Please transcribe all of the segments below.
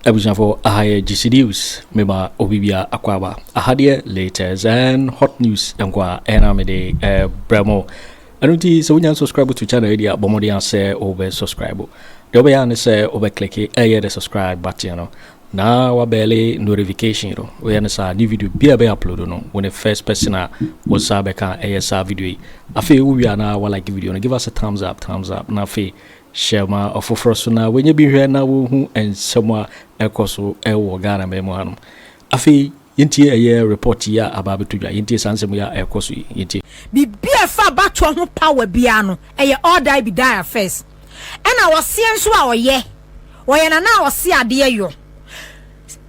abusuafo aha yɛ GC News mema obi bia akɔ aba aha deɛ latest and hot news nkoa ɛna mede ɛbrɛ mo Ɛno nti sɛ wonya subscribe to channel yi deɛ a bɔ mmɔden a sɛ wobɛ subscribe. Deɛ wobɛyɛ a ne sɛ wobɛ click ɛyɛ the subscribe button no na wabɛɛle notification no. Woyɛ no saa new video bi a bɛ upload no wo ne first person a wo nsa bɛka ɛyɛ saa video yi. Afei wowie a na wa like video no give us a thumbs up thumbs up na afei hyɛ ma ɔfoforɔ so na wɔnyɛ bi hwɛ na wɔhu nsɛm a ɛkɔ so ɛwɔ Ghana man mu hanom. Afei yɛntie ɛyɛ report yi a aba abɛtɔ dwa, yɛntie saa nsɛm yi a ɛrekɔ so yi, yɛntie. Biribi a ɛfa abatoɔ ho power biara no ɛyɛ all die be die affairs. Ɛna ɔseɛ nso a ɔyɛ, ɔyɛ na na ɔse adeɛ yɔ.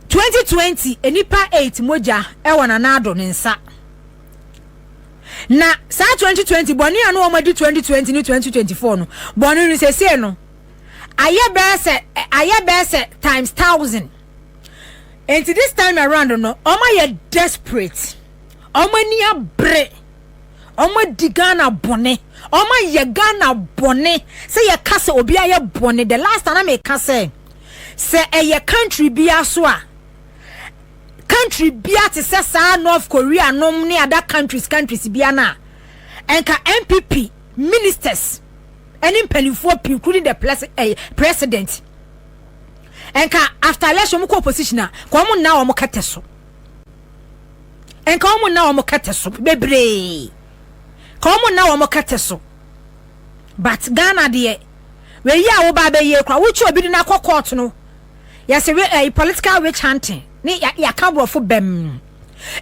Twenty twenty nnipa eight mogya ɛwɔ Nana Addo ne nsa. Na saa twenty twenty bɔne a na wɔn adi twenty twenty ne twenty twenty four no, bɔne no sesei no ayɛ bɛyɛ sɛ ayɛ bɛyɛ sɛ times thousand. nti this time around no wɔn ayɛ desperate wɔn ani abere wɔn adi ghana bɔne wɔn ayɛ ghana bɔne sɛ yɛka sɛ obi ayɛ bɔne the last time meka sɛ sɛ ɛyɛ country bi aso a country bi a te sɛ saa north korea nom ne other countries countries bi a na ɛnka npp ministers ɛne mpanimfoɔ pii including the eh, president nka after election wɔn kɔ opposition a nka wɔn nna wɔn kɛtɛ so nka wɔn nna wɔn kɛtɛ so bebree nka wɔn nna wɔn kɛtɛ so but ghana deɛ wei a wɔba abɛyie kora wotwi obi de no akɔ court no yɛsɛ we ɛyi eh, political witch hunting ne yɛaka borɔfo bɛm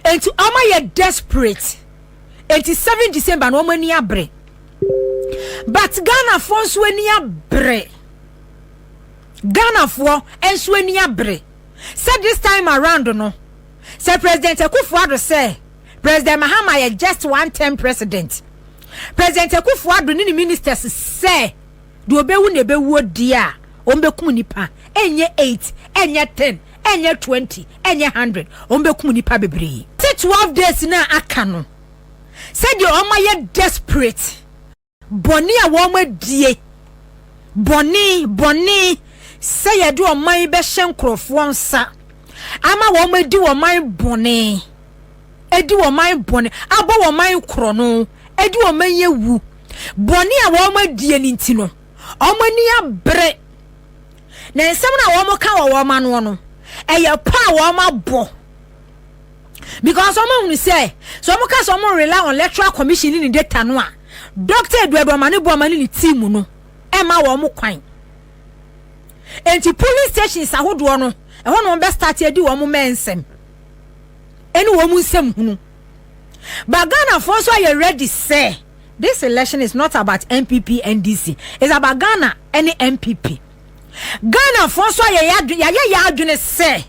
nti wɔn ayɛ desperate nti seven december na wɔn ani abere but ghana fo nso ani abere. Ghanafoɔ nso ani abere sɛ this time around no sɛ President Akuffo Addo sɛ President Mahama yɛ just one term President. President Akuffo Addo ne ne ministers sɛ deɛ ɔbɛwu na ɛbɛwuo deɛ a wɔn bɛkum nipa ɛnyɛ eight ɛnyɛ ten ɛnyɛ twenty ɛnyɛ hundred wɔn bɛkum nipa bebree. Te twelve days no a aka no sɛdeɛ wɔn ayɛ desperate. Bɔne a wɔadie, bɔne, bɔne, sɛ yɛde ɔman yi bɛhyɛ nkurɔfoɔ nsa ama wɔn adi wɔn man bɔne, adi wɔn man bɔne, abɔ wɔn man korɔ no, adi wɔn man yɛ wu. Bɔne a wɔn adie no nti no, wɔn ani abere. Na nsɛm no a wɔn ka wɔ wɔn ano no, ɛyɛ pɔ a wɔn abɔ. because wɔn ahunu sɛ sɛ wɔn ka sɛ wɔn rely on electoral commission ne ne data no a doctor eduadu amane bu amane ne team no ɛma wɔn kwan nti polling stations ahodoɔ no ɛhɔ na wɔn bɛ start adi wɔn mɛ nsɛm ɛne wɔn nsɛm hunu but ghana foɔ nso ayɛ ready sɛ this election is not about npp ndc it's about ghana ɛne npp ghana foɔ nso ayɛ yɛ adwene sɛ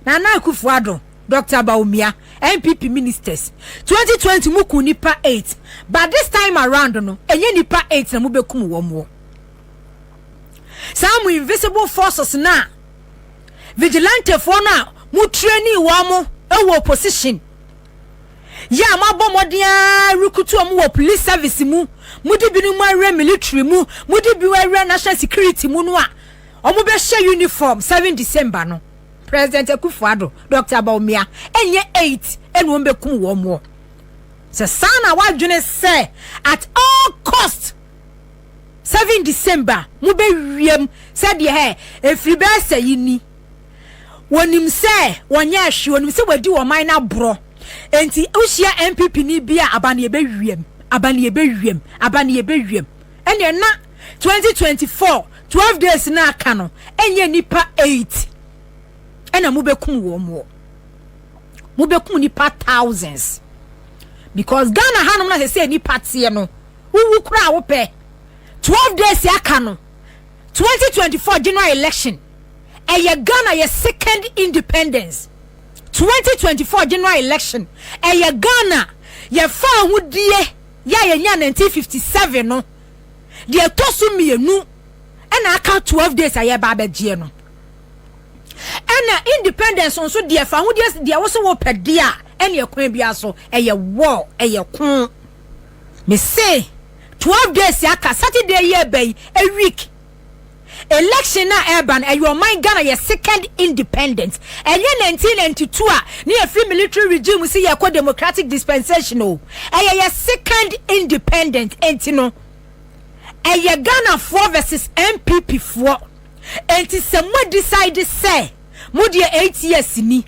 nana akufo ado. Doctor Bawumia, NPP ministers twenty twenty mo kum nipa eight but this time around no ɛnyɛ nipa eight na mo bɛ kum wɔn wɔ saa mo invisible forces na vigilantefoɔ no a mo training wɔn mo ɛwɔ opposition yɛ a mo abɔ mmɔden ara rekutu wɔn wɔ police service mu mo de binom mo awura military mu mo de bi awura national security mu no a wɔn bɛhyɛ uniform seven december no. President Akufo Addo, Doctor Bawumia, ɛnyɛ eight ɛna wɔn bɛ kum wɔn moɔ. Sɛ saa na wadwene sɛ at all cost seven December mo bɛ wiem sɛ deɛ hɛ efiri bɛ sɛ yi ni. Wɔnim sɛ wɔnyɛ ɛhwe, wɔnim sɛ wɔadi wɔn man na borɔ. Enti wohyia NPP ni bi a aba ne yɛ bɛ wiem, aba ne yɛ bɛ wiem, aba ne yɛ bɛ wiem. ɛneɛ na 2024 12 days no aka no ɛnyɛ nipa 8 ɛna mobɛkum wɔn moɔ mobɛkum nipa thousands because Ghana hanom na sɛ sɛ nipa teɛ no wowu koraa wopɛ 12 days aka no 2024 general election ɛyɛ Ghana yɛ second independence 2024 general election ɛyɛ Ghana yɛfa ahodie Yɛ a yɛnyaa 1957 no, deɛ ɛtɔ so mmienu na aka 12 days a yɛreba abɛgyeɛ no. Ɛna independence nso deɛ fa ho deɛ deɛ wo so wo pɛ deɛ a ɛne ɛkwan biara so ɛyɛ war ɛyɛ ko. Me se 12 days aka Saturday yi ɛbɛn a week Election no a ɛreba no, ɛyɛ ɔman Ghana yɛ second independent. Ɛnyɛ 1992 a na yɛfiri military regime mu si yɛrekɔ democratic dispensation o. Ɛyɛ yɛ second independent. Enti no, ɛyɛ Ghanafoɔ versus NPP foɔ. Enti sɛ mo decide sɛ mo deɛ eight years ni,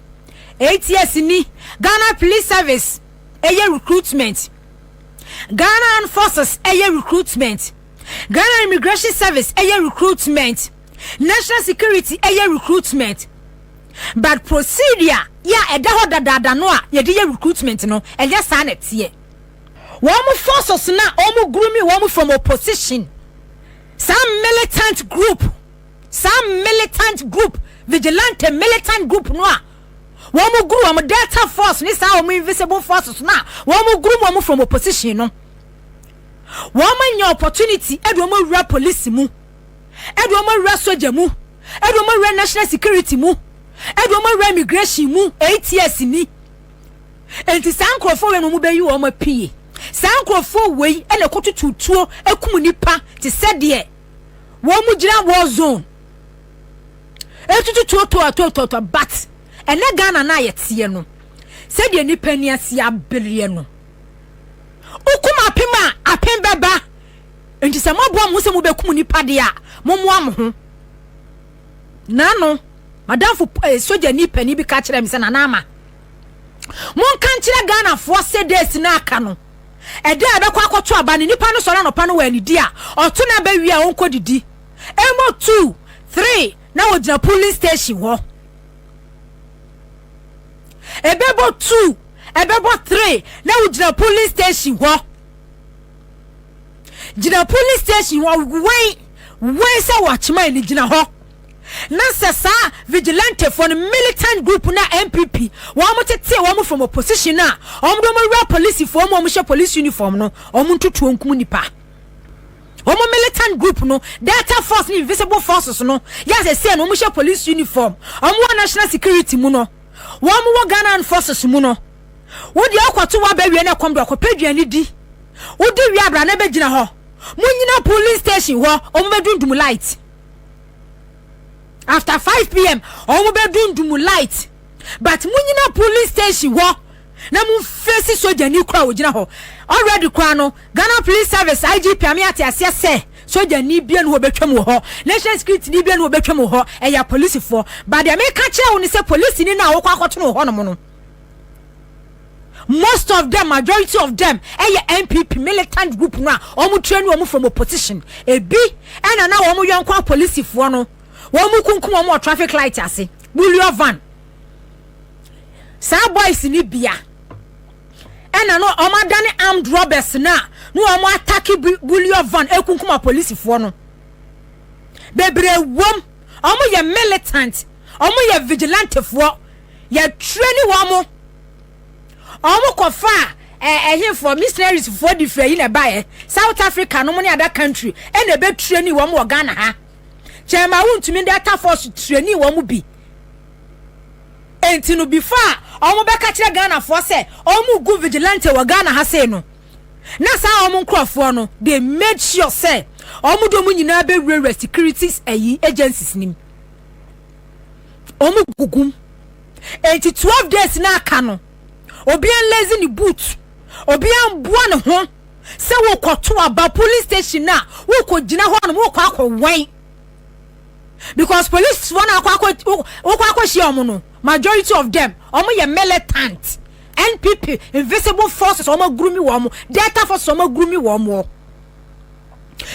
eight years ni, Ghana Police Service ɛyɛ recruitment, Ghana Armed Forces ɛyɛ recruitment, Ghana Immigration Service ɛyɛ recruitment, National Security ɛyɛ recruitment, but procedure yɛ a ɛda hɔ dadaada no a yɛde yɛ recruitment no ɛnyɛ saa na ɛteɛ. Wɔn forces no a wɔn grooming wɔn from opposition, saa militant group, saa militant group, vigilante militant group no a wɔn guru wɔn Delta Force ne saa wɔn invisible forces no a wɔn groom wɔn from opposition no. wɔn anya opportunity ɛde wɔn awura police mu ɛde wɔn awura soja mu ɛde wɔn awura national security mu ɛde wɔn awura immigration mu eight years ni nti saa nkurɔfoɔ wei na wɔn bɛyi wɔn apue saa nkurɔfoɔ wei ɛna ɛkɔ tututuo ɛkum nipa te sɛ deɛ wɔn mu gyina war zone ɛtututuo toɔtoɔtoɔtoɔ but ɛnɛ Ghana na yɛteɛ no sɛdeɛ nipa ni ase abereɛ no Wokum apem a, apem bɛba. Enti sɛ moaboa mo ho sɛ mobɛkum nipa deɛ a, mommoa mo ho. Nano, madamfo eh, sogyani panin bi ka kyerɛ me sɛ, Nana Ama, monka nkyerɛ Ghanafoɔ sɛ days no aka no, ɛda a ɛbɛkɔ akɔto aba no, nipa no sɔre anɔpa no wɔ anidi a, ɔto no aba wie a ɔnkɔ didi. Ɛmɔ two, three, na wɔgyina polling station hɔ. Ɛbɛbɔ two. Ɛbɛbɔ three na wo gyina polling station hɔ gyina polling station hɔ wɛn wɛn sɛ wɔakyema ani gyina hɔ na sɛ saa vigilante fo no militant group na npp wɔn tete wɔn from opposition a wɔn de wɔn wura polisi fo wɔn wɔn hyɛ police uniform no wɔn ntutuo nkum nipa wɔn militant group no delta force ne invisible forces no yɛ asɛsɛ no wɔn hyɛ police uniform wɔn wɔ national security mu no. wɔn wɔ Ghana Armed Forces mu no, wo deɛ wokɔto waba wie na ɛkɔm do akɔpɛ aduane di. Wodi wie abra na bɛgyina hɔ. Monyina polling station hɔ, wɔn bɛdundum light. After 5 pm, wɔn bɛdundum light. But monyina polling station hɔ. na mo nfesi sogyani koraa a ogyina hɔ already koraa no Ghana police service IGP ame ate aseɛ sɛ sogyani bia no obetwam wɔ hɔ national security ni bia no obetwam wɔ hɔ ɛyɛ polisifoɔ ba deɛ meka kyerɛ wo ne sɛ polisi ni no a wokɔ akɔto no wɔ hɔnom no most of them majority of them ɛyɛ NPP militant group no a wɔn train wɔn from opposition ebi ɛna na wɔn yɔnko apolisifoɔ no wɔn kunkum wɔn wɔ traffic light ase bulio van. saa boys ni bia ɛna no ɔmo adane armed robbers no a na ɔmo atake bullion van ekunkuma polisifoɔ no bebree wɔm ɔmo yɛ militant ɔmo yɛ vigilantefoɔ yɛtwerɛ ne wɔn mo ɔmo kɔfa ɛhemfoɔ missionaries foɔ de firi ayi na ɛbaeɛ south africa no mo ne ada country ɛna ɛbɛtwerɛ ne wɔn wɔ ghana ha kyɛn ma wontumi de atafoɔ so twerɛ ne wɔn bi Enti no before a ɔmo bɛka kyerɛ Ghanafoɔ sɛ ɔmo gu vigilante wɔ Ghana ha sei no, na saa ɔmo nkorɔfoɔ no they made sure sɛ ɔmo de ɔmo nyinaa bɛwurawura security ayi agencies nim. Ɔmo gugum. Enti 12 days na aka no, obiara nlazy ne boot, obiara mboa ne ho sɛ wokɔto aba police station no a wokɔgyina hɔ nom wokɔ akɔwɛn. because police wɔn akɔ akɔ wokɔ akɔhyia wɔn no majority of them wɔn yɛ militant npp invisible forces wɔn agurumi wɔn delta forces wɔn agurumi wɔn wɔ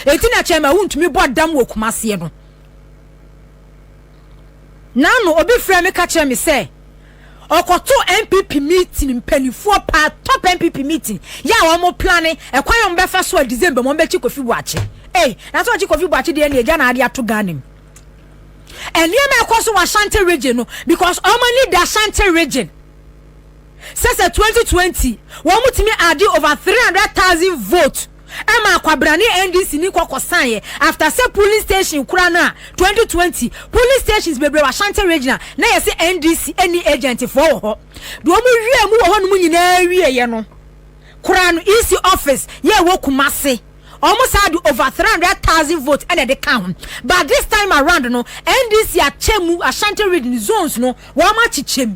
eti na kyɛn ma wuntumi bɔ dam wɔ kumaseɛ no naanu obi frɛ mi ka kyerɛ mi sɛ. ɔkɔtoo npp meeting mpanimfoɔ paa top npp meeting yɛ a wɔn plane ɛkwan a wɔn bɛfa so a december mu wɔn bɛkyi kofi buakye ei na sɛ ɔkyi kofi buakye deɛ ne agya na ade ato ghana mu nneɛma ɛkɔ so wɔ ashanti region no because wɔn ani da ashanti region sɛ sɛ 2020 wɔn tumi ade over 300,000 vote Ɛma akwabrane NDC ni kɔ kɔsaeɛ after sɛ polling station kura no a 2020 polling stations bebree wɔ Ashanti Regional na yɛse NDC nni agent foɔ wɔ hɔ deɛ wɔn wiee mu wɔ hɔ nom nyinaa wieɛ no koraa no EC office yɛ ɛwɔ Kumasi wɔn saa de over 300,000 votes ɛna ɛde ka ho but this time around no NDC akyɛ mu Ashanti Region zones no wɔn akyekyɛ mu.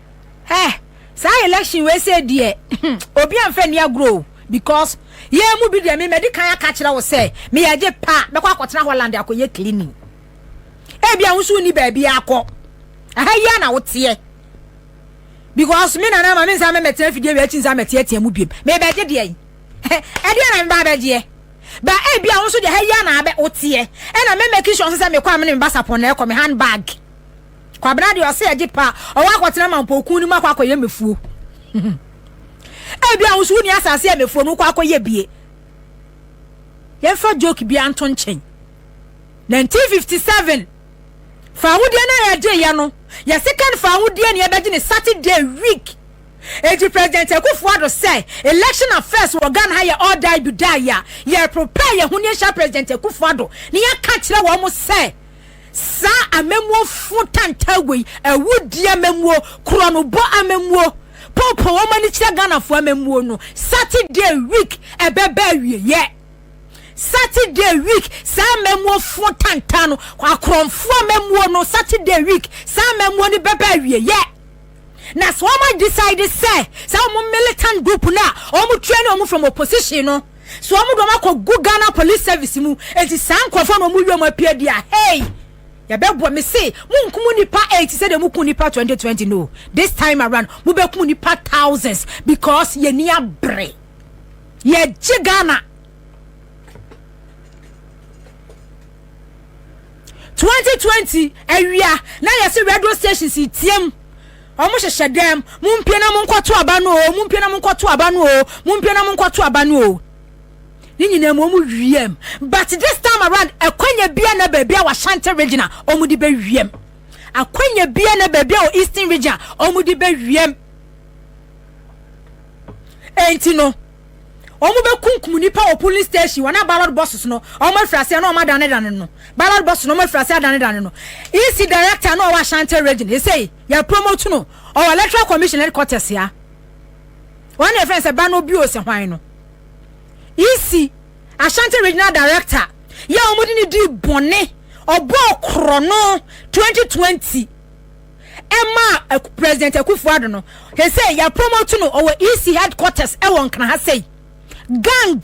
Eh saa election wei sɛ deɛ obi anfa ni agorɔ o because yɛn mu bi deɛ me mɛdi kan aka kyerɛ wo sɛ me yɛ gye pa bɛkɔ akɔtena Holland akɔyɛ cleaning ebi a wosu ni baabi akɔ aha yia na woteɛ because me nana ma me nsa mɛmɛte afidie wei akyi nsa mɛte atia mu biem me bɛgye deɛ yi ɛdeɛ na me ba bɛgyeɛ ba ebi a wo nso deɛ ha yia na abɛ woteɛ ɛna mɛmɛ kisho nso sɛ mekɔ amene me basapɔn na ɛkɔ me handbag Kwabena deɛ ɔsɛ ɛgye pa ɔwɔ akɔtena mampɔw kun no mu akɔ akɔyɛ mɛfuo ebi a wosu woni asase a mɛfuo no kɔ akɔyɛ bie yɛmfa joke bia nto nkyɛn 1957 faahodie no a yɛgye yɛ no yɛ second faahodie ne yɛbɛgye ne Saturday week eti president Akufo Addo sɛ election affairs wɔ Ghana ha yɛ all die be die a yɛ prepare yɛ ho ne yɛhyɛ president Akufo Addo ne yɛka kyerɛ wɔn sɛ Saa amammuo fo tantaaguo yi, awudie amammuo, korɔnobɔ amammuo, poopoo wɔn ani kyerɛ Ghanafoɔ amammuo no, Saturday week ɛbɛba awieɛ. Saturday week, saa amammuo fo tantaa no, akorɔmfoɔ amammuo no, Saturday week, saa amammuo no bɛba awieɛ. Na sɛ wɔn decide sɛ, sɛ wɔn militant group no a wɔn train wɔn from opposition no, So wɔn de wɔn akɔ gu Ghana police service mu eti saa nkorɔfoɔ na wɔn wia wɔn apia di a hey yɛbɛboa me se mo nkum nipa eight sɛ de mo kun nipa twenty twenty no this time around mo bɛ kum nipa thousands because yɛ ni abere yɛ gye Ghana twenty twenty awia na yɛ se radio stations tiam. Wɔn hyehyɛ dɛm, Mumpue na monkɔto aba no o, mumpue na monkɔto aba no o, mumpue na monkɔto aba no o. Ne nyinaa mu, wɔn wiem. But this time around, akwanya bia na baabi a wɔ Ashanti region a wɔn de bɛ wiem. Akwanya bia na baabi a wɔ Eastern region a wɔn de bɛ wiem. Enti no. wɔn bɛkunkum nnipa wɔ police station wɔn a ballot boxes no wɔn afiri aseɛ na wɔn adanedane no ballot boxes no wɔn afiri aseɛ adanedane no ec director na ɔwɔ ashanti region esei yɛ promote no ɔwɔ electoral commission headquarters ya wɔn na yɛfrɛ sɛ ba no bio sɛ hwan no ec ashanti regional director yɛ wɔn de ne di bɔne ɔbɔ korɔ no 2020. ɛmaa Aku, President Akufo-Addo no, hwɛ sɛ yɛ promote no, ɔwɔ EC headquarters ɛwɔ Nkran ha sei. Gang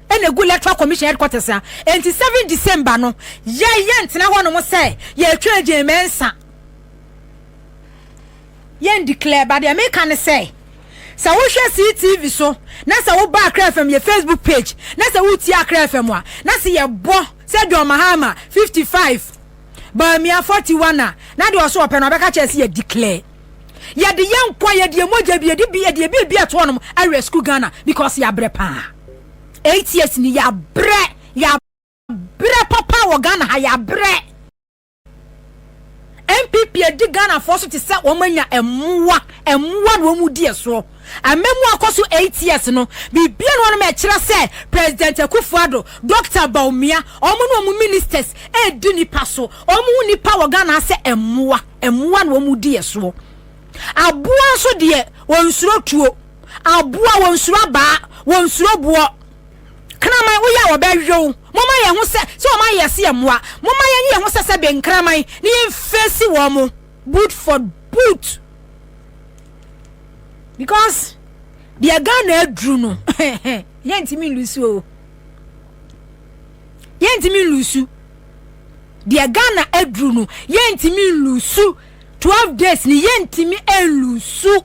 ɛna egu Electoral Commission headquarters ha. Enti 7 December no, yɛ yɛ ntena hɔ nom sɛ yɛ twa Agyemɛ nsa. Yɛ ndeclare, but deɛ meka ne sɛ, sɛ wo hwɛ see TV so, na sɛ wo ba Accra FM yɛ Facebook page, na sɛ wo tie Accra FM a, na sɛ yɛ bɔ sɛ John Mahama 55, Bawumia forty one a na deɛ ɔso ɔpɛ no ɔbɛka kyerɛ sɛ yɛ declare yɛde yɛ nkwa yɛde yɛ mogya bi yɛde bi yɛde bi bi ɛto hɔnom awia school Ghana because yɛabrɛ paa eight years ni yɛabrɛ yɛabrɛ papa wɔ Ghana ha yɛabrɛ NPP adi Ghana foɔ so te sɛ wɔn anya ɛmoa ɛmoa na wɔn di ɛsoɔ. Amammu akɔ so eight years no, biribiara nni hɔ ma ɛkyerɛ sɛ President Akufo-Addo, Dɔkta Bawumia, wɔn ne wɔn ministers redi nnipa so. Wɔhu nnipa wɔ Ghana ara sɛ mmoa. Mmoa na wɔdi yɛn soɔ. Aboa nso deɛ, wɔnsuro tuo. Aboa, wɔnsuro abaa, wɔnsuro boɔ. Kraman, woyɛ a wɔbɛwe wo. Momma yɛn ho sɛ sɛ wɔayɛ yɛn sɛ mmoa. Momma yɛnyɛ yɛn ho sɛ sɛ bɛnkraman na yɛmfeesi wɔn boot for boot. because deɛ ghana aduru no yɛntumi nlusu o yɛntumi nlusu deɛ ghana aduru no yɛntumi nlusu twelve days ni yɛntumi nlusu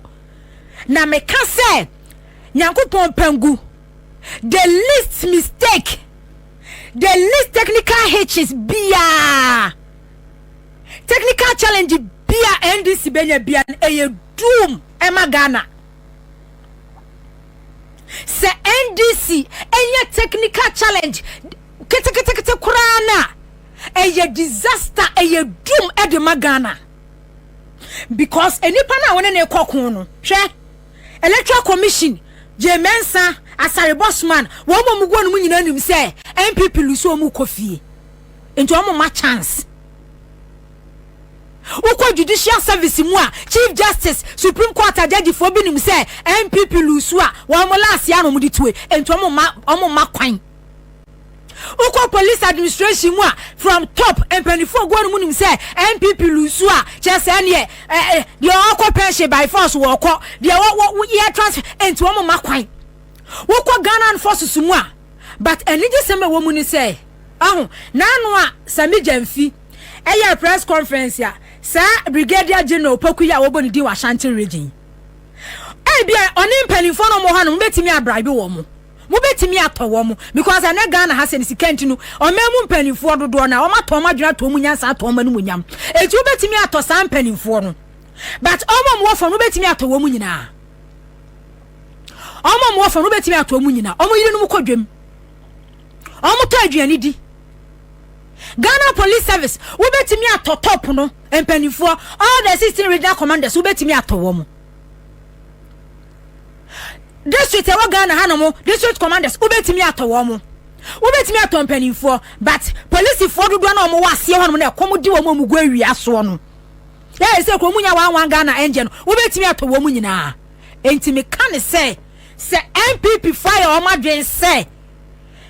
na meka sɛ nyankopɔn pangu the least mistake the least technical hitches biara technical challenge Bi a NDC bɛnya bia no ɛyɛ doom ɛma Ghana. Sɛ NDC ɛnya technical challenge keteketekete koraa no a, ɛyɛ disaster, ɛyɛ doom ɛde ma Ghana. Because enipa no a wɔne ne kɔ ko no, hwɛ, Electoral Commission, Jay Mensa, Asare Bosman, wɔn mu ɔmo gu ɔnom nyinaa nim sɛ NPP lusu ɔmo kɔ fie. Nti ɔmo ma chance. Wokɔ Judicial Service mu a, Chief Justice, Supreme Court agyagyifoɔ bi nim sɛ NPP luusu a, wɔn laase ara na wɔde tue, enti wɔn mma, wɔn mma kwan. Wokɔ Police Administration mu a, from top, mpanimfoɔ gu hɔ nom nim sɛ NPP luusu a, kyerɛ sɛ ɛneɛ, ɛ, ɛ, deɛ ɔrekɔ pension by force wɔrekɔ, deɛ wɔ, wɔ, wɔ, yɛ transfer, enti wɔn mma kwan. Wokɔ Ghana Armed Forces mu a, but anigyesɛm a ɛwɔ mu ne sɛ, aho, n'ano a, sɛ megya mfi, ɛyɛɛ press conference a saa Brigadier General Opoku yi a wɔbɔ ne din wɔ Ashanti region yi, ebia ɔne mpanimfoɔ no wɔwɔ hɔ no mobɛtumi abraibe wɔn mo mobɛtumi atɔ wɔn mo because ɛnɛ Ghana ha sɛ ne sika nti no ɔman mu mpanimfoɔ dodoɔ no a wɔn atɔ wɔn adwene atɔ wɔn nyansa atɔ wɔn anum nyam eti wobɛtumi atɔ saa mpanimfoɔ no but wɔn a wɔwɔ fam no wobɛtumi atɔ wɔn nyinaa wɔn a wɔwɔ fam no wobɛtumi atɔ wɔn nyinaa wɔn yiri no mu kɔ dwam wɔn tɔ aduane di Ghana Police Service wobɛtumi atɔ top no mpanimfoɔ all the sixteen regional commanders wobɛtumi atɔ wɔn mo district ɛwɔ Ghana ha no mo district commanders wobɛtumi atɔ wɔn mo wobɛtumi atɔ mpanimfoɔ but polisifoɔ dodoɔ na wɔn wɔ aseɛ hɔ nom na ɛkɔm di wɔn a wɔn gu awia soɔ no yɛ ɛsɛ kuro mu nya wɔn wɔn Ghana ɛnjɛ no wobɛtumi atɔ wɔn nyinaa nti meka ne sɛ sɛ NPP fo ayɛ wɔn adwene sɛ.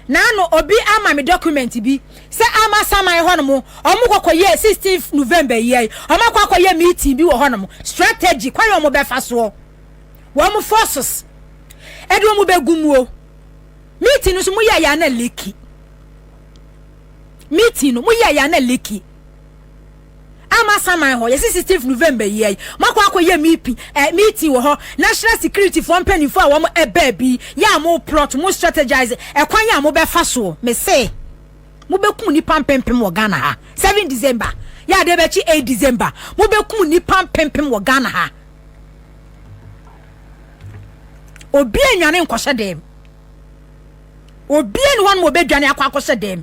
Naano obi ama me document bi sɛ ama saman hɔ nom ɔmo kɔkɔ yɛ 16th November yia yi ɔmo akɔ akɔ yɛ meeting bi wɔ hɔ nom strategy kwan yɛ ɔmo bɛfa soɔ wɔn forces ɛde ɔmo bɛgu muo meeting no so mo yɛ yɛ ana leki meeting no mo yɛ yɛ ana leki ama saman hɔ yɛsi sixteenth november yi ayi makɔ akɔyɛ meeting eh, meeting wɔ hɔ national security foɔ mpanimfoɔ a wɔn ɛbaa bi yɛ a mo plot mo strategize ɛkwan yɛ a mo bɛfa soɔ me se mo bɛkum nipa mpempem wɔ ghana ha seven december yɛ adeɛ bɛkye eight december mo bɛkum nipa mpempem wɔ ghana ha obi anwane nkɔhyɛ dɛm obi ani hɔ no ma ɔbɛdwane akɔ akɔhyɛ dɛm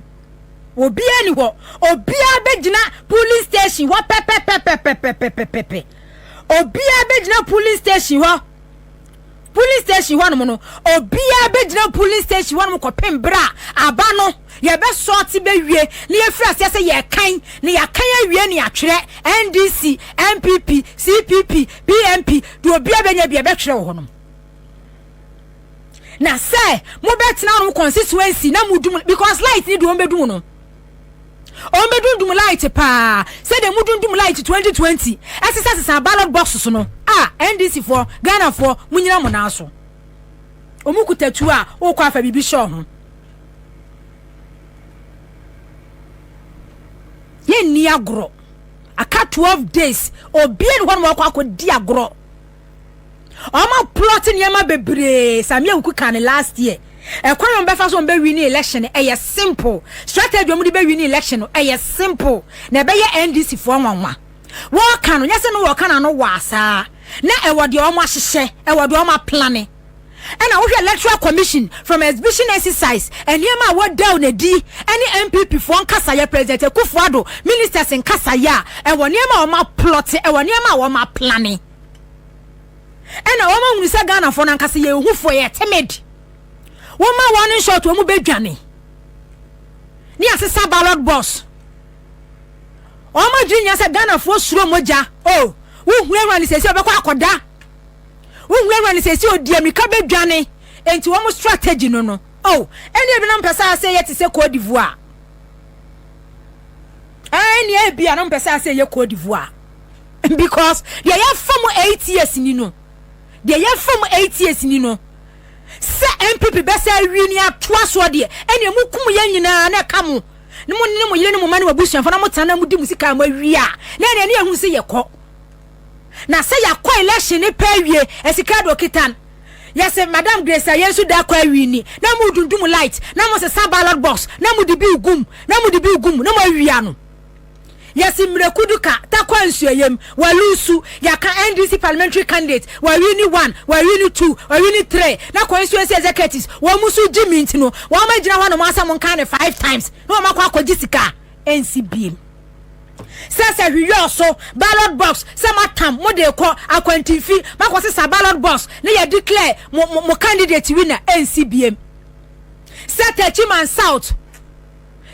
Obiara ni hɔ. Obiara bɛgyina polling station hɔ pɛpɛpɛpɛpɛpɛpɛpɛ. Obiara bɛgyina polling station hɔ. Polling station hɔ nom no, obiara bɛgyina polling station hɔ nom kɔpem berɛ a aba no yɛbɛsɔɔte bɛwie na yɛfiri aseɛ sɛ yɛkan na yɛakan awie ne atwerɛ NDC, NPP, CPP, PMP deɛ obiara bɛnya bi yɛbɛtwerɛ wɔ hɔ nom. na sɛ mobɛtena wɔn constituency na mudum because light ni deɛ wɔbɛdum no wɔbɛdundum light paa sɛdeɛ mudundum light 2020 ɛsesasesa ballot boxes no a ndc foɔ ghana foɔ munyina mo nan so wɔn kuta tuo a wokɔ afa biribi hyɛ wɔn ho yɛnni agorɔ aka 12 days obiara ne hɔ nom akɔ akɔdi agorɔ Ɔma plot nneɛma bebree Samia Wuku ka ne last year. Ɛkwan a wɔbɛfa so wɔbɛwi ne election no ɛyɛ simple. Strategy wɔn de bɛwi ne election no ɛyɛ simple. Na ɛbɛyɛ NDC foɔ nwanwa. Wɔka no nyɛ sɛ no wɔka no ano waa saa. Na ɛwɔ deɛ wɔn ahyehyɛ, ɛwɔ deɛ wɔn aplane. Ɛna wohwɛ electoral commission from exhibition exercise nneɛma a wɔdaw no adi ɛne NPP foɔ nkasayɛ president Akufo Addo ministers nkasayɛ a ɛwɔ nneɛma a wɔn aplɔte ɛwɔ nneɛma a wɔn aplane ɛna wɔn ahunu sɛ Ghana foɔ no ankasa yɛ ehufoɔ yɛ timid wɔn ma wɔn no nshort wɔn bɛ dwane ne asesa ballot box wɔn adwiri nyɛ sɛ Ghana foɔ suro mogya o oh, wohunahuna ne sɛ sɛ ɔbɛkɔ akɔda Wonwurawura no sɛsi odi ammirika bɛdwane enti wɔn strategy no no. Oh, ɛne ebinom pɛ sɛ asɛ yɛ te sɛ Cote d'Ivoire. Ɛne ebi a na mpɛ sɛ asɛ yɛ Cote d'Ivoire. Because deɛ yɛfa mu eight years ni no. Deɛ yɛfa mu eight years ni no. Sɛ NPP bɛsɛ awi ne atoa soɔ deɛ ɛne emu kum yɛn nyinaa na ɛka mo. Ne mo ne mo yere ne mo ma ne mo abusuafo na mo tena na mo di mo sika mo awia. Na ɛne ɛne ehu sɛ yɛkɔ. na sɛ yɛakɔ election ne pɛ awie asika de okita no yɛsɛ madam grace a yɛn nso da kɔ awie ni na mu dundum light na mo sesa ballot box na mo de bi gum na mo de bi gum na mo awia no yɛsi mmireku duka takɔ nsuayam walusu yɛaka ndc parliamentary candidate wawi ni one wawi ni two wawi ni three na constituency executives wɔn mu so gyi minti no wɔn agyina hɔ na wɔn asɛ mo nkan ne five times na wɔn akɔ akɔgye sika. ɛnsi biem sɛ sɛ hwiyɔɔ so ballot box sɛ moatam mo de kɔ akwantinfi makɔ sesa ballot box ne yɛ declare mo mo mo candidate winner ɛnsi biem sɛ Techiman South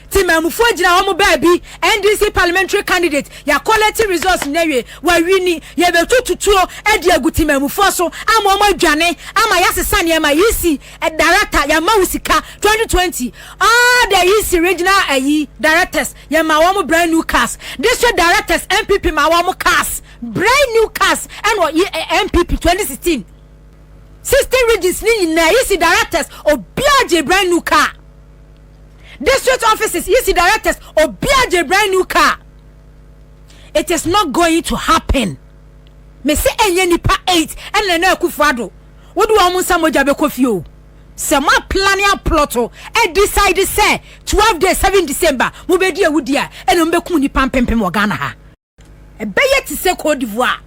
ti maamufoɔ gyina wɔn baabi NDC parliamentary candidate yɛakɔlɛte results nyina wie wawini yɛbɛtututuo adi agu ti maamufoɔ so ama wɔn adwane ama yɛasesa nneɛma yisi Director yɛma wo sika twenty twenty all the yisi regional ayi directors yɛma wɔn brand new cars district directors npp ma wɔn cars brand new cars ɛna ɔyi npp twenty sixteen sixteen regions ni nyinaa yisi directors obiara gye brand new car district offices yisi directors obiara gye brand new car it is not going to happen me se enye nipa eight ɛna na akufo ado. Wode wɔn nsa mogya bɛkɔ fie o. Sɛ mo aplane aplɔto adecide sɛ twelve days seven December mobɛdi awudi a, ɛna mobɛkum nnipa mpempem wɔ Ghana ha. Ɛbɛyɛ te sɛ Cote d'Ivoire.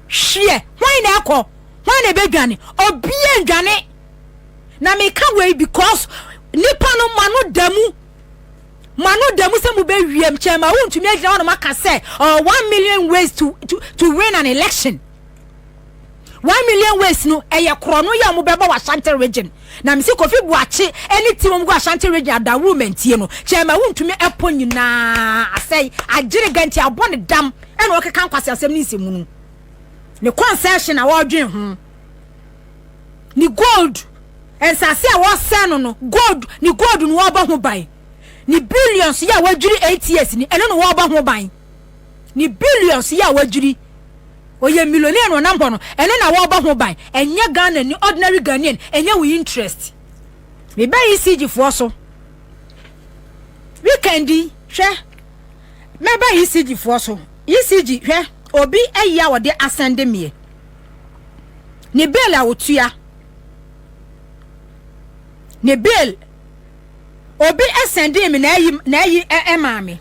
Hweɛ, hwan na ɛkɔ? Hwan na ɛbɛdwane? Obia ndwane. Na meka wei because nipa no mo ano da mu mo ano da mu sɛ mobɛwiem kyɛn ma wontumi agyina hɔ no maka sɛ oh, one million ways to, to, to win an election One Million Ways no, ɛyɛ korɔno yɛ a wɔbɛbɔ wɔ Ashanti region. Na mese Kofi Boakye ne team wɔn gu Ashanti region adawurumantie no, kyɛ ɛma wontumi ɛpo nyinaa asɛe, agyere ga nti abɔ ne dam ɛna ɔkeka nkwaseasɛm ne nsɛmunu. Ne concession a wɔdwen ho, ne gold, nsase a wɔsɛn no no, gold, ne gold no wɔbɔ ho ban. Ne billions yɛ a wɔadwiri eight years ni, ɛno no wɔbɔ ho ban. ne billions yi a wadwiri ɔyɛ millionaire na ɔnam hɔ no ɛno na wɔbɔ ho ban ɛnyɛ Ghana ni ordinary Ghanaian ɛnyɛ wo interest mebɛ ECG foɔ so weekend yi hwɛ mɛba ECG foɔ so ECG hwɛ obi ayi a wɔde asɛnde meɛ ne bail a wɔtua ne bail obi asɛnde me na ayi na ayi ɛmaa me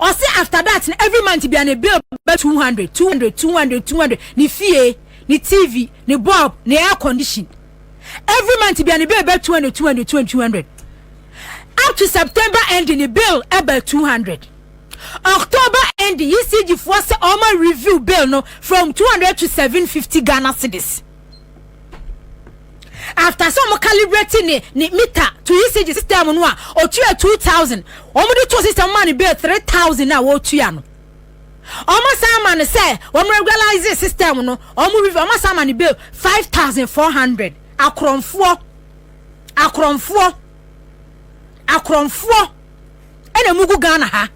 ɔsi after that na every month bia ne bill bɛ two hundred two hundred two hundred two hundred ne fie ne tv ne bulb ne air condition every month bia ne bill bɛ two hundred two hundred two hundred two hundred up to september ending ne bill ɛbɛ two hundred october ending ecg foɔ sɛ ɔmo review bill no from two hundred to seven fifty ghana cedis. after sɛ wɔn calibrate ne ne meter to ECG system no a otua two thousand wɔn de to system ma ne bill three thousand a wɔtua no wɔn san ma no sɛ wɔn regularize system no wɔn review wɔn san ma no bill five thousand four hundred akorɔmfoɔ akorɔmfoɔ akorɔmfoɔ ɛna mu gu Ghana ha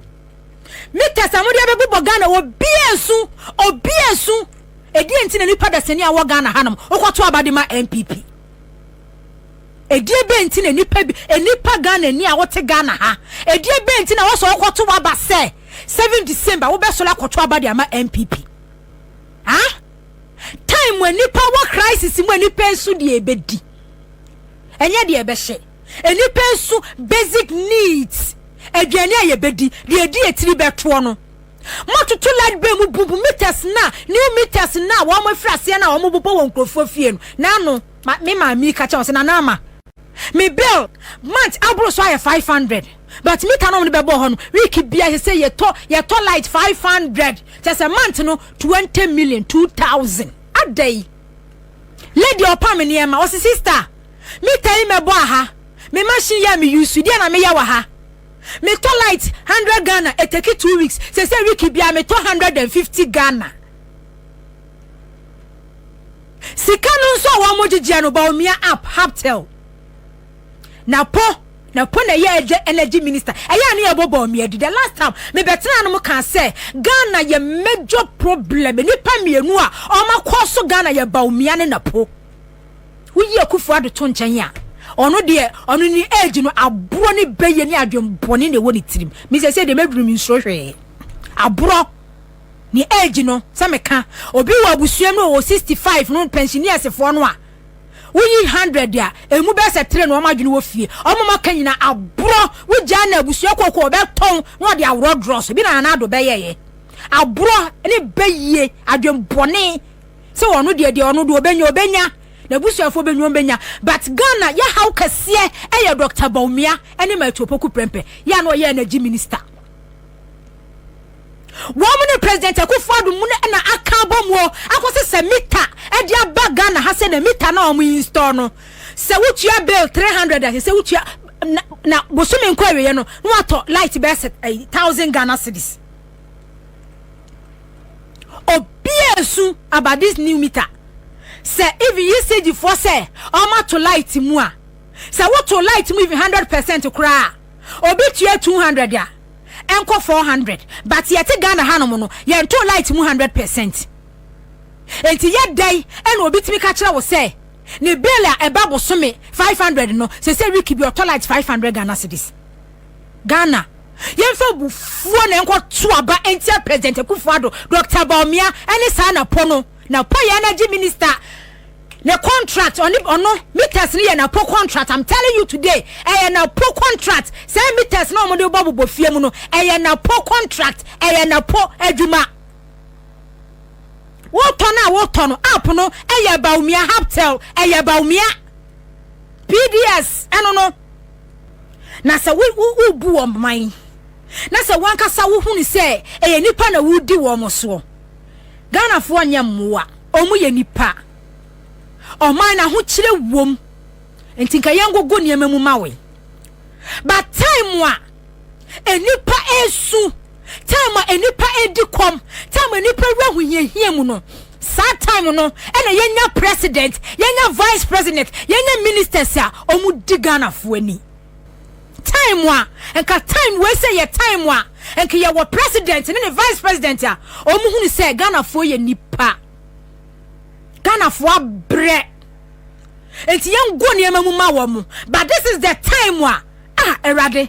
meters a wɔde abɛbobɔ Ghana obi esu obi esu. Ɛdeɛn nti na nnipa dasani a wɔwɔ Ghana hanom wokɔto aba de ma NPP? Ɛdeɛ bɛn nti na nnipa bi nnipa Ghanani a wote Ghana ha ɛdeɛ bɛn nti na wɔsɔ wokɔto aba sɛ 7 December wobɛsɔre akɔto aba de ama NPP? Ha? Time mu nnipa wɔ crisis mu nnipa nso deɛ ɛbɛdi ɛnyɛ deɛ ɛbɛhyɛ nnipa nso basic needs aduane a yɛbɛdi deɛ ɛdi etiri bɛtoɔ no Mototo light bay mu bumbu meters na new meters na a wɔn afiri aseɛ na a wɔn bobɔ wɔ nkurɔfoɔ fie no na ano ma me maame yi ka kyɛ wɔn sɛ nana ama me bill month aboro so ayɛ five hundred but mita na wɔn de bɛbɔ hɔ no week bia sɛ sɛ yɛtɔ yɛtɔ light five hundred kyɛ sɛ month no twenty million two thousand ada yi lady ɔpa me nneɛma wɔsi sister mita yi mɛbɔ aha me machine yɛ me yusu deɛ na meyɛ wɔ ha. Me tɔ light hundred Ghana e take two weeks sese week biara me tɔ hundred and fifty Ghana sika no nso a wɔn mo gyegyeɛ no Bawumia app Haptel na po na po na ɛyɛ ɛgye energy minister ɛyɛ a ne yɛ bɔ Bawumia di the last time me bɛ tena no mo kan sɛ Ghana yɛ major problem nipa mmienu a wɔn akɔ so Ghana yɛ Bawumia ne na po. Woyi Akufo Addo to nkyɛn a, ɔno deɛ, ɔno ne age no, aborɔ ne bɛyɛ ne adwenbɔne na ɛwɔ ne tirim. Me sɛsɛ deɛ mɛduru me nsuro hwee. Aborɔ ne age no, sɛ meka obi wɔ abusua mu wɔ 65 no pensioneersfoɔ no a, woyi 100 a, ɛmu bɛyɛ sɛ tere na wɔn adwene wɔ fie. Wɔn ma ka nyina aborɔ, wogyaa na abusua kooko ɔbɛtɔn na ɔde aworɔ dorɔ so. Bi na Nana Addo bɛyɛeɛ. Aborɔ ne bɛyie adwenbɔne. sɛ ɔno deɛ deɛ ɔno deɛ ɔbɛnya ɔbɛnya n'abusuafoɔ bɛnya wɔn bɛnya but Ghana yɛ haw kɛseɛ ɛyɛ Dr. Bawumia ɛne Mathew Opoku Prempeh yɛ ano ɔyɛ energy minister wɔn ne president Akufo Addo mu na aka abɔ mu akɔ sɛ sɛ mita ɛde aba Ghana ha sɛ na mita na wɔn install no sɛ wotua bill three hundred ɛsɛ sɛ wotua na na bosome nkɔ awieɛ no na watɔ light bɛsɛ thousand Ghana cedis. obiaa nsu about this new meter sɛ even usage foɔ sɛ ɔma to light mu a sɛ woto light mu even hundred percent koraa obi tua two hundred a ɛnkɔ four hundred but yɛte Ghana hanom no yɛnto light mu hundred percent nti yɛ dɛn ɛna obi tumi ka kyerɛ wo sɛ ne bill a ɛba bosome five hundred no sɛ sɛ wiki bi ɔtɔ light five hundred Ghana cedis. Ghana, yɛmfa abufuo na yɛnkɔto aba ntia President Akufo-Addo, Dɔkta Bawumia ne saa Napo no. Napo yɛ energy minister ne contract, ɔne ɔno meters no yɛ Napo contract. I'm telling you today, ɛyɛ Napo contract. Sɛ meters na wɔn de bɔ bobɔ fie mu no, ɛyɛ Napo contract, ɛyɛ Napo adwuma. Wotɔ no a wotɔ no, app no ɛyɛ Bawumia, Haptel ɛyɛ Bawumia, PDS ɛno no. na sɛ wobu wɔn man na sɛ wankasa wohunu sɛ ɛyɛ nipa na wodi wɔn soɔ ghanafoɔ nyɛ mmoa wɔn yɛ nipa ɔman na ho kyerɛ wom nti nka yɛn gogo nneɛma mu ma we but time a nipa esu time a nnipa edi kɔm time a nnipa wura hohiahia mu no saa time no ɛna yɛnya president yɛnya vice president yɛnya ministers a wɔn di ghanafoɔ ani time a nka time wei sɛ yɛ time a nka yɛwɔ president ne ne vice president a wɔn hunu sɛ ghanafoɔ yɛ nipa ghanafoɔ abrɛ nti yɛn go nneɛma mu ma wɔn but this is the time a ah awurade.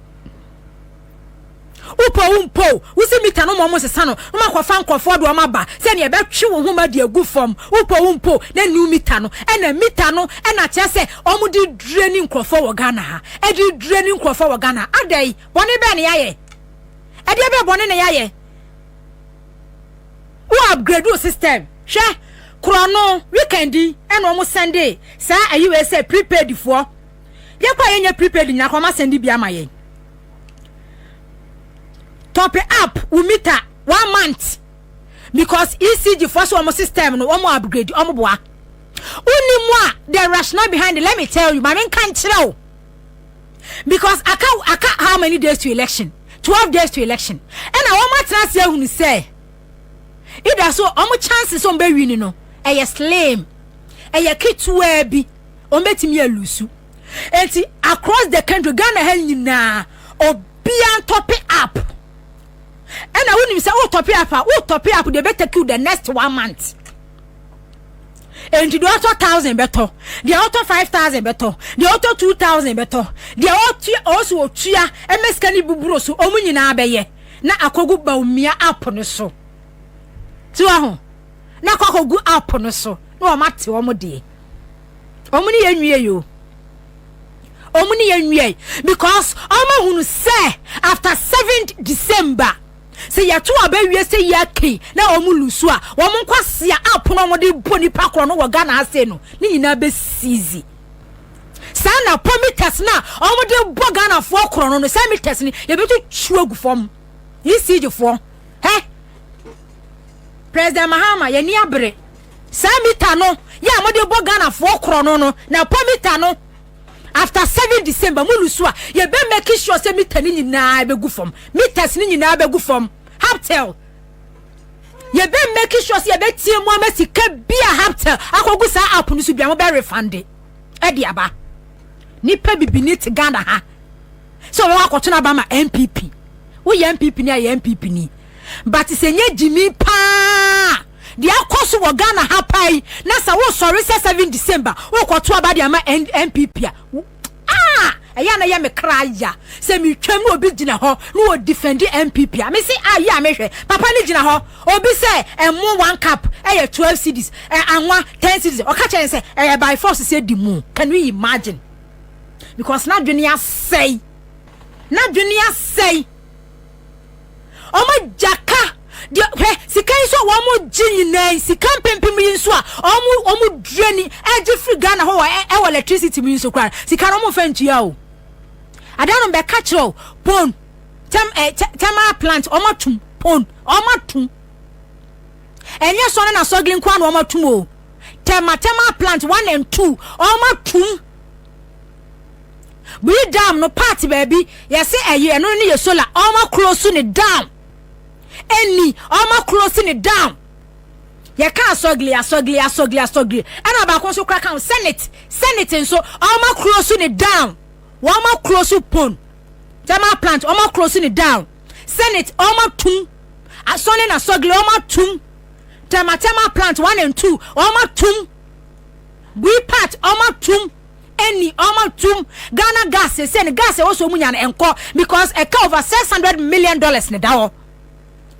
wopɔ wo mpo wosi mita no ma ɔmo sesa no na makɔfa nkorɔfoɔ de ɔmo aba sɛnea ɛbɛtwe wo ho ma de agu fam wopɔ wo mpo na new mita no ɛna mita no ɛna kyerɛ sɛ ɔmo de dure ne nkorɔfoɔ wɔ Ghana ha ɛde dure ne nkorɔfoɔ wɔ Ghana ada yi bɔne bɛɛ ne yɛayɛ ɛdeɛ bɛɛ bɔne ne yɛayɛ wo upgrade wo system hwɛ korɔ no weekend ɛna ɔmo sɛnde saa ayiwee sɛ prepaid foɔ Yɛkɔ a yɛnyɛ prepaid nyina kɔ ɔma sɛnde bi ama yɛn. Top up wo meter one month because ECG foɔ so wɔn system no wɔn upgrade wɔn boa. Wonni mu a the rationale behind it let me tell you maame nka nkyerɛ o because aka aka how many days to election twelve days to election ɛna wɔn atena ase ahunu sɛ ida so wɔn chances wɔn bɛ win no ɛyɛ slim ɛyɛ ketewa bi. wɔbɛtumi alusu nti across the country ghana ha nyinaa obia ntɔpe app ɛna wonim sɛ wotɔpe app a wotɔpe app deɛ ɛbɛtake you the next one month nti deɛ ɔtɔ thousand bɛtɔ deɛ ɔtɔ five thousand bɛtɔ deɛ ɔtɔ two thousand bɛtɔ deɛ ɔtua ɔso ɔtua ɛmɛ sika ne buburo so ɔmo nyinaa bɛyɛ na akɔgu baomia app no so tiwa ho na akɔ akɔgu app no so na wɔn ate wɔn deɛ. wɔn ne yɛn nwie yo wɔn ne yɛn nwie because wɔn ahunu sɛ after seventh december sɛ yɛto aba wie sɛ yɛ kɛn na wɔn lu so a wɔn nkwasia apono wɔn de bɔ nipa korɔ no wɔ ghana ase no ne nyinaa bɛ siizi saa na pɔ meters na wɔn de bɔ ghanafoɔ korɔ no no saa meters no yɛbɛtwitwi agu fam yi siigyefoɔ hɛ president mahama yɛni abere Saa mita no yɛ a mode bɔ Ghana foɔ korɔno no na ɛpɔ mita no after seven December mo lusu a yɛ bɛ make sure sɛ mita no nyinaa bɛ gu fam mitas no nyinaa bɛ gu fam haptel yɛ bɛ make sure sɛ yɛ bɛ tie mu ama sika bi a haptel akɔgu saa app no so bia mo bɛ refund ɛde aba nipa bibini te Ghana ha sɛ wɔn akɔtɔn aba ma NPP woyɛ NPP ni a yɛ NPP ni but sɛ nye gyimi paa. Deɛ akɔ so wɔ Ghana ha paa yi na sɛ wo sɔre sɛ seven December wo kɔ to aba de ama NPP a wo ah ɛyɛ na yɛ me kra ya sɛ me twam na obi gyina hɔ na wɔ defend NPP a me se ah yɛ a me hwɛ papa ne gyina hɔ obi sɛ ɛmo one cup ɛyɛ twelve cedis ɛ anwa ten cedis ɔka kyɛn sɛ ɛyɛ by force sɛ di mu can you imagine because na dwene asɛe na dwene asɛe Wɔn gya ka deɛ hwɛ sika yi nso a wɔn gye nyinaa yi sika mpempem yi nso a wɔn wɔn dua ni ɛgye firi Ghana hɔ wɔ ɛwɔ electricity mu yi nso koraa sika no wɔn nfa ntua o. Adanom bɛka kyerɛ o pon tɛm ɛ tɛmaa plant wɔn atum pon wɔn atum ɛnyɛ sɔne na sɔgili nkoa na wɔn atum o tɛma tɛmaa plant one and two wɔn atum. biri dam no part baabi yɛse ɛyɛ ɛno ne yɛ solar ɔmo akoro so ne down ɛni ɔmo akoro so ne down yɛka asɔgili asɔgili asɔgili asɔgili ɛna baako nso kora kan senate senate nso ɔmo akoro so ne down wɔn akoro so pon thermal plant ɔmo akoro so ne down senate ɔmo atum asɔne na asɔgili ɔmo atum thermal thermal plant one and two ɔmo atum bui part ɔmo atum. ɛnni ɔma tum Ghana gas sɛsɛ no gas ɛwɔ sɛ ɔmu nya no ɛnkɔ because ɛka over 600 million dollars ne da hɔ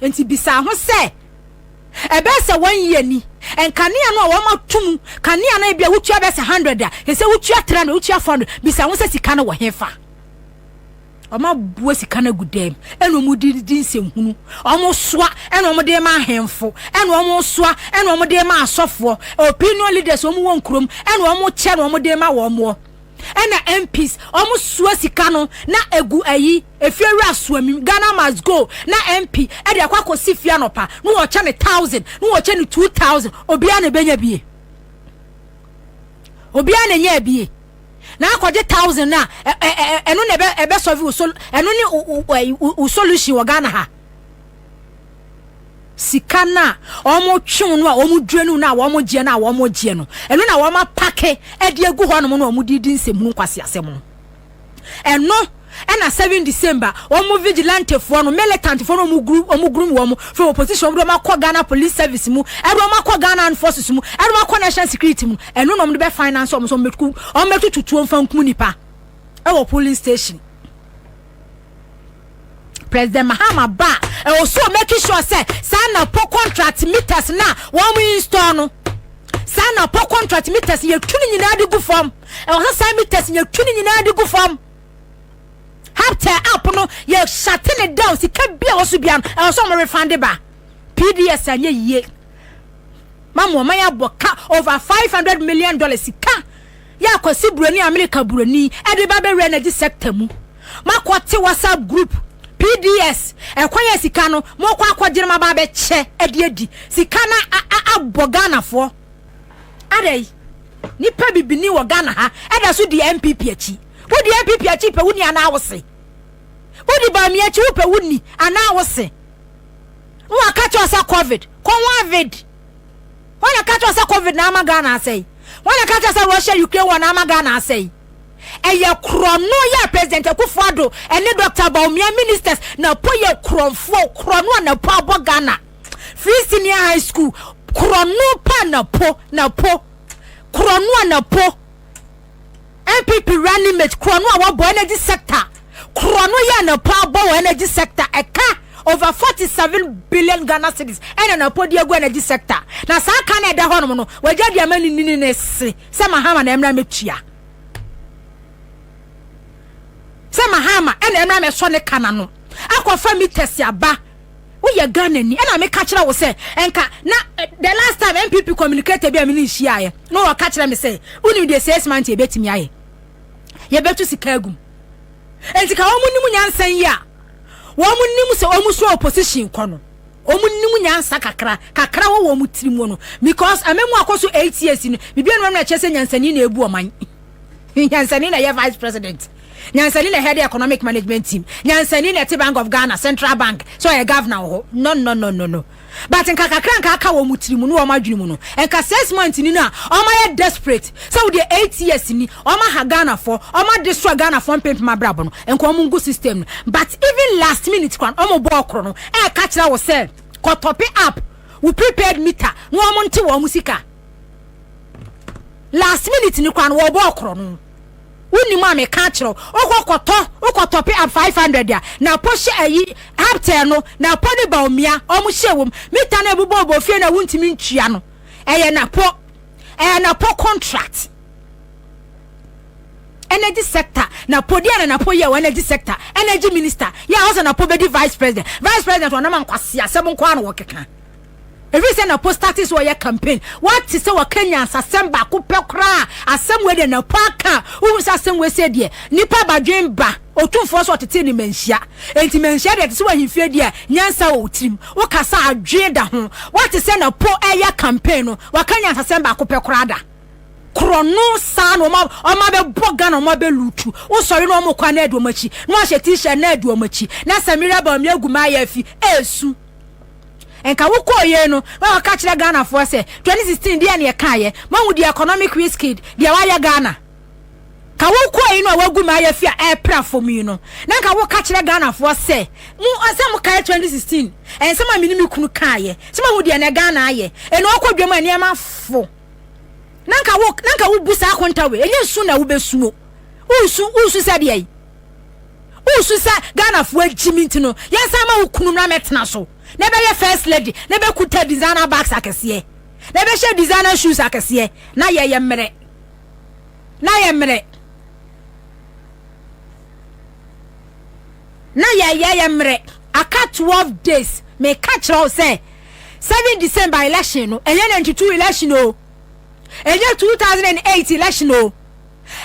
nti bisaa ho sɛ ɛbɛyɛ sɛ wɔn yie ni nkanea no a wɔma tum kanea no ebi a wotua bɛyɛ sɛ 100 a ɛsɛ wotua 300 wotua 400 bisaa ho sɛ sika no wɔ hefa Wɔn aboa sika no agu dɛm, ɛna wɔn de di nsɛnhunu, wɔn soa, ɛna wɔn de ma ahemfo, ɛna wɔn soa, ɛna wɔn de ma asɔfoɔ, opinion leaders wɔn wɔ nkurom, ɛna wɔn kyɛ na wɔn de ma wɔn wɔ, ɛna MPs wɔn soa sika no na egu ayi efiewura soamim Ghana must go na MP ɛde akɔ akɔsi fia nɔpa na wɔkyɛ ne thousand na wɔkyɛ ne two thousand obiara na ebenya bie obiara na enya bie. na akɔgye thousand no a ɛno na ɛbɛsɔve wo sol ɛno ne wo solution wɔ ghana ha sika no a wɔtwew no a wɔdwira no no a wɔgyeɛ no a wɔgyeɛ no ɛno na wɔapake de agu hɔ nom no a wɔde di nsɛmhunu nkwaseasɛm no ɛno Ɛna seven December wɔn vigilante foɔ no militant foɔ no wɔn guru wɔn guru wɔn from opposition wɔn de wɔn akɔ Ghana police service mu ɛde wɔn akɔ Ghana armed forces mu ɛde wɔn akɔ national security mu ɛno na wɔn de bɛ finance wɔn so wɔn bɛ tutu wɔn bɛ tutu tuo nfa nkum nipa ɛwɔ polling station. President Mahama ba ɛwɔ so make sure sɛ saa na po contract meters na wɔn install no saa na po contract meters yɛtu ne nyinaa de gu fam ɛwɔ sɛ saa meters yɛtu ne nyinaa de gu fam. Haptel app no yɛ shate ne down sika bi a wɔso bia no ɛwɔ sɛ wɔn refund ba PDS anyɛ yie mamu wɔn ayɛ abɔ ka over five hundred million dollars sika yɛ akɔsi buroni Amerika buroni ɛde ba bɛwura na gye sector mu makɔ te WhatsApp group PDS ɛkwan yɛ sika no mokɔ akɔgyere ma ba bɛkyɛ ɛde adi sika na abɔ Ghanafoɔ Adɛn? Nipa bibini wɔ Ghana ha ɛda so di NPP akyi. Wodi NPP akyi pɛ wuni anaa wose? Wodi Bawumia akyi wopɛ wuni anaa wose? Wo aka kyerɛ sɛ covid, kɔ ho avid. Wɔn na ka kyerɛ sɛ covid na ama Ghana asɛe. Wɔn na ka kyerɛ sɛ Russia Ukraine war na ama Ghana asɛe. Ɛyɛ korɔno yɛ President Akufo-Addo ɛne Dr. Bawumia ministers na po yɛ korɔnfoɔ korɔno a na po abɔ Ghana. free senior high school korɔno pa na po na po korɔno a na po npp running mate korɔno a wɔbɔ energy sector korɔno yɛ na po abɔ wɔ energy sector ɛka over forty seven billion ghana cedis ɛna na po di egu energy sector na saa ka na ɛda hɔnom no wɔagya di ama ne nini ne se sɛ mahama na ɛmra mɛtua sɛ mahama ɛna ɛmra mɛsɔ ne ka na no akɔfa meters aba. woyɛ Ghana ni ɛna meka kyerɛ wo sɛ ɛnka na eh, the last time MPP communicator bi a mene nhyiaeɛ na wɔka kyerɛ me sɛ wonim deɛ six months yɛbɛtumi ayɛ yɛbɛtu sika agum enti ka wɔn nim nyansa yi a wɔn nim sɛ wɔn so opposition kɔ no wɔn nim nyansa kakra kakra wɔ wɔn tiri mu no because ɛmɛ mu akɔ so eight years no biribi anum ɛna kyerɛ sɛ nyansani na ebu ɔman nyansani na yɛ vice president. Nyansani na ɛhead economic management team Nyansani na ɛte bank of Ghana central bank sɛ ɔyɛ governor wɔ hɔ nonnononono but nka kakra nka aka wɔn tiri mu ne wɔn adwene mu no nka six months ni no a wɔn ayɛ desperate sɛ wodeɛ eight years ni wɔn aha Ghana fɔ wɔn ade soa Ghana fɔ mpempem abrabɔ no nka wɔn ngu system no but even last minute kwan wɔn bɔɔ koro no ɛka kyerɛ wo sɛ kɔtɔpe app wo prepaid meter na wɔn nte wɔn sika last minute ni kwan wɔbɔɔ koro no. Wonim a meka akyerɛ wo. Wokɔ kɔtɔ wokɔ tɔpe ab five hundred a na apo hyɛ ayi haptɛɛ no na apo ne baomia ɔmo hyɛ wom mita no ɛbobɔ ɔbɔ fie no a wontumi ntua no ɛyɛ na po ɛyɛ na po contract energy sector na po deɛ na na po yɛ wɔ energy sector energy minister yɛ a ɔsɛ na po bɛdi vice president vice president ɔnam ankwasi asɛm nko a na wɔkeka. Ɛfiri sɛ na Postati sɛ ɔyɛ campaign. Wate sɛ wɔka nyansasɛm baako pɛ koraa asɛm wei deɛ na po aka a wohu sɛ asɛm wei sɛ deɛ nipa badwen ba otumfoɔ sɛ ɔtete ne manhyia. Enti manhyia deɛ te sɛ wahemfie deɛ a nyansa wɔ wo tirim. Wokasa a dwen da ho. Wate sɛ na po ɛyɛ campaign no waka nyansasɛm baako pɛ koraa da. Korɔno saa na ɔma ɔma bɛbɔ Ghana ɔma bɛ lutu. Wosɔre na ɔmo kɔ a na ɛdi ɔmo akyi. Na wahyɛ t-shirt na ɛdi ɔmo akyi. Na Samira Bawumia agu mayaafi ɛɛsu. nka wo kɔɔ yei no na ɔka kyerɛ Ghana foɔ sɛ 2016 deɛ ne ɛka yɛ mahu deɛ economic risk deɛ wayɛ Ghana ka wo kɔɔ yi no a wagu ma ayɛ fi a ɛpra fam yi no na nka wo ka kyerɛ Ghana foɔ sɛ mu ɔsɛ mo kae 2016 ɛnsɛm a mene me kunu kaa yɛ sɛ mahu deɛ ne Ghana ayɛ ɛna ɔkɔ dwam a nneɛma fo na nka wo na nka wo bu saa konta wei ɛnyɛ su na wobɛsuo wosu wosu sɛ deɛ yi wosu sɛ ghanafoɔ agyi me nti no yɛnsan ma wo kunu na mɛtena so na ɛbɛyɛ first lady na ɛbɛkuta designer bags akɛseɛ na ɛbɛhyɛ designer shoes akɛseɛ na yɛyɛ mmerɛ na yɛ mmerɛ na yɛyɛ yɛ mmerɛ aka 12 days meka kyerɛ wo sɛ 7 december election no ɛnyɛ 92 election o ɛnyɛ 2008 election o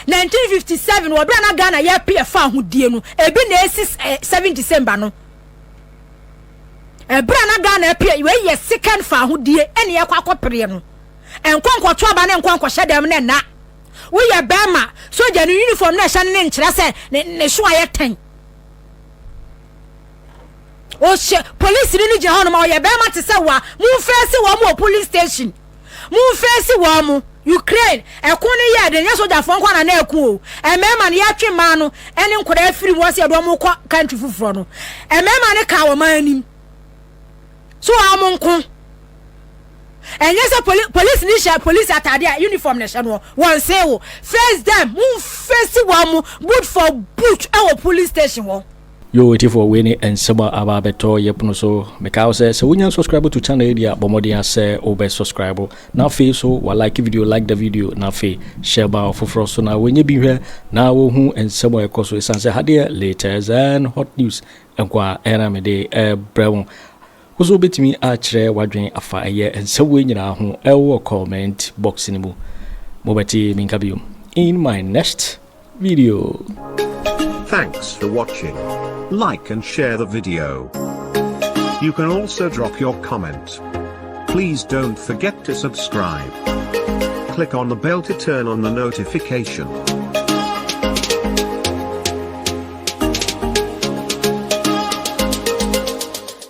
1957 wɔ bere a na Ghana yɛpe ɛfa ahodie no ebi na esi 7 December no ɛbere a na Ghana pe wei yɛ second fa ahodie ɛne ɛkɔ akɔpereɛ no ɛnkɔ nkɔto aba ne nkɔ nkɔhyɛ dɛm ne nna woyɛ bɛrima sogya no uniform na ɛhyɛ no ne nkyerɛ sɛ ne so ayɛ tɛn ɔhyɛ polisi no gyina hɔ no ma ɔyɛ bɛrima te sɛ wa momfɛɛ se wɔ mu wɔ police station Momfeesi wɔn mo! Ukraine, ɛko no yɛɛ den, nyɛ sogyafoɔ nko na na ɛko o, mmarima no yɛtwe mmaa no ne nkwadaa firi mu ɔsɛ yɛde wɔn kɔ country foforɔ no, mmarima no kaa wɔn anim, so wɔn nko, ɛnyɛ sɛ poli polisi ni hyɛ polisi ataade a uniform na ɛhyɛ no wɔn see wo, face them, mo face wɔn mo, boot for boot ɛwɔ police station hɔ. Yoo atifoɔ wei ne nsɛm a aba abɛtɔ yɛ pono so mekae wo sɛ sɛ wonya nsɔscribe to channel yi deɛ a bɔ mmɔden a sɛ wo bɛ sɔscribe na afei so wa like video like the video na afei share ma ɔfoforɔ so na wɔnyɛ bi nhwɛ na wɔhu nsɛm a ɛkɔ so ɛsiane sɛ ha deɛ latest and hot news nkoa ɛna mede ɛbrɛ wo Wo nso wobɛtumi akyerɛ w'adwene afa ɛyɛ nsɛm wei nyinaa ho wɔ comment box no mu. Mobɛte me nka biom in my next video. Thanks for watching. Like and share the video. You can also drop your comment. Please don't forget to subscribe. Click on the bell to turn on the notification.